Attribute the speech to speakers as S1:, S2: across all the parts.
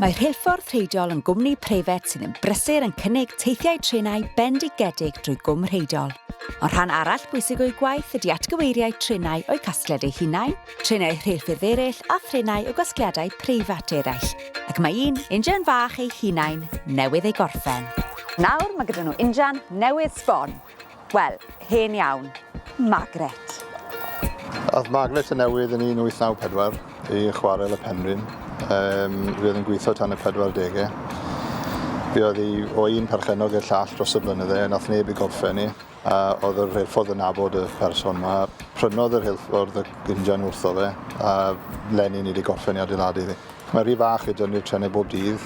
S1: Mae rheilffordd rheidiol yn gwmni preifat sydd yn brysur yn cynnig teithiau trenau bendigedig drwy gwm rheidiol. Ond rhan arall bwysig o'i gwaith ydy atgyweiriau trenau o'i casgliad ei hunain, trenau rheilffyrdd eraill a threnau o gasgliadau preifat eraill. Ac mae un injan fach ei hunain newydd ei gorffen. Nawr mae gyda nhw injan newydd sbon. Wel, hen iawn. Margaret.
S2: Ath Margaret y Newydd yn 1894 i chwarel y Penrhyn. Um, fi oedd yn gweithio tan y 40au. Fi oedd i o un perchennog i'r llall dros y blynydde, nath neb i gorffen ni, a oedd yr rheilffordd yn abod y person yma. Prynodd yr rheilffordd y injan wrtho fe, a lenni ni wedi gorffen i adeiladu ddi. Mae rhy fach i dynnu'r trenau bob dydd,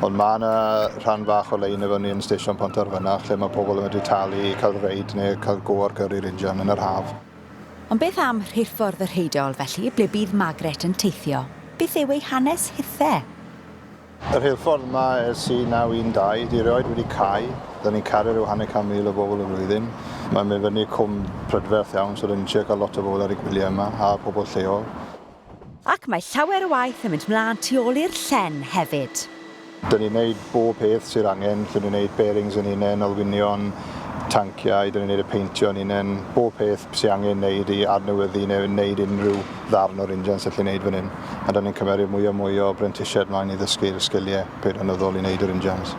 S2: ond mae yna rhan fach o lein i fyny yn Stesion Pontarfynach lle mae pobl yn medru talu i cael reid neu cael go ar gyrru'r injan yn yr haf. Ond beth am
S1: rheilffordd yr Heidol, felly, ble bydd Margaret yn teithio? Beth yw ei hanes hithe? Y
S2: rheilffordd yma ers 1912 'di rioed wedi cau. Dan ni'n caru rhyw hanner can mil o bobl y flwyddyn. Mae'n mynd fyny cwm prydferth iawn so dan ni'n trio cael lot o bobl ar eu gwyliau yma a pobl lleol. Ac
S1: mae llawer o waith yn mynd mlaen tu ôl i'r llen hefyd. Dyn ni'n neud
S2: bob peth sydd angen, lle ni'n neud bearings yn unen, olwynion, tanciau, dyn ni'n neud y peintio yn unen, bob peth sy angen neud i adnewyddu neu neud unrhyw ddarn o'r injan sy'n gallu neud fan hyn. A dyn ni'n cymeryd mwy a mwy o brentisiaid mlaen i ddysgu'r sgilie peirianyddol i neud yr injans.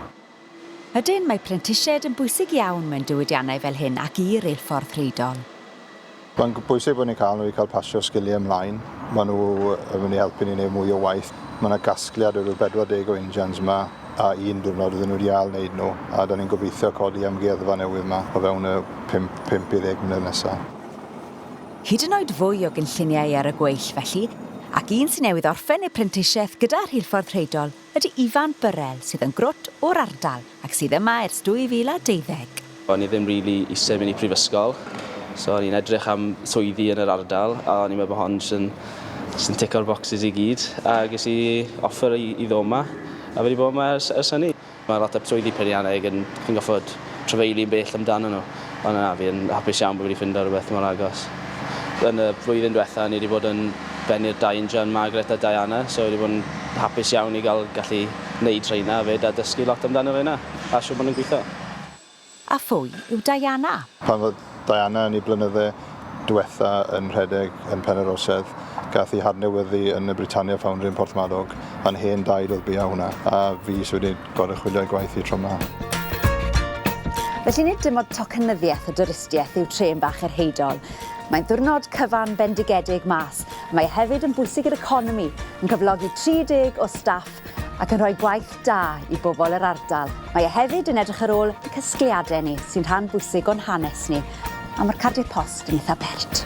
S2: Ydyn,
S1: mae prentisiaid yn bwysig iawn mewn diwydiannau fel hyn ac i reilffordd Rheidol. Mae'n
S2: bwysig bod ni'n cael nhw i cael pasio sgiliau ymlaen, maen nhw yn mynd i helpu ni wneud mwy o waith. Mae yna gasgliad o ryw 40 o injans yma a un diwrnod fydden nhw wedi ail wneud nhw a dan ni'n gobeithio codi amgueddfa newydd yma o fewn y pump, pump i ddeg mlynedd nesaf.
S1: Hyd yn oed fwy o gynlluniau ar y gweill felly, ac un sy'n newydd orffen ei phrentisiaeth gyda Rheilffordd Rheidol ydy Ifan Burrell sydd yn grwt o'r ardal ac sydd yma ers 2012. O'n i ddim rili
S3: isie mynd i prifysgol so o'n i'n edrych am swyddi yn yr ardal a o'n i'n meddwl bod hon jyst yn jyst yn tico'r bocsys i gyd a ges i offer i i ddod 'ma a fi 'di bod 'ma ers ers hynny. Mae lot o swyddi peirianneg yn chi'n gorfod trafeilu yn bell amdanyn nhw. Ond na, fi yn hapus iawn bod fi wedi ffindo rhywbeth mor agos. Yn y flwyddyn diwetha, ni wedi bod yn bennu'r dau injan, Margaret a Diana, so fi wedi bod yn hapus iawn i gael gallu wneud rheina 'fyd a dysgu lot amdano rheina, a shwt maen nhw'n gweithio. A
S1: phwy yw Diana? Pan ddoth
S2: Diana yn ei blynydde diwetha yn rhedeg yn Pen yr Orsedd, gath hi hadnewyddu yn y Britannia Foundry yn Porthmadog, a'n hen daid oedd bia hwnna, a fi sy wedi Gorau chwilio i gwaith fi tro 'ma. Felly
S1: nid dim ond tocynnyddiaeth o dwristiaeth yw Trên Bach yr Heidol. Mae'n ddiwrnod cyfan bendigedig mas, ond mae e hefyd yn bwysig i'r economi, yn cyflogi 30 o staff ac yn rhoi gwaith da i bobl yr ardal. Mae e hefyd yn edrych ar ôl ein casgliadau ni, sy'n rhan bwysig o'n hanes ni, a mae'r cardiau post yn eitha pert.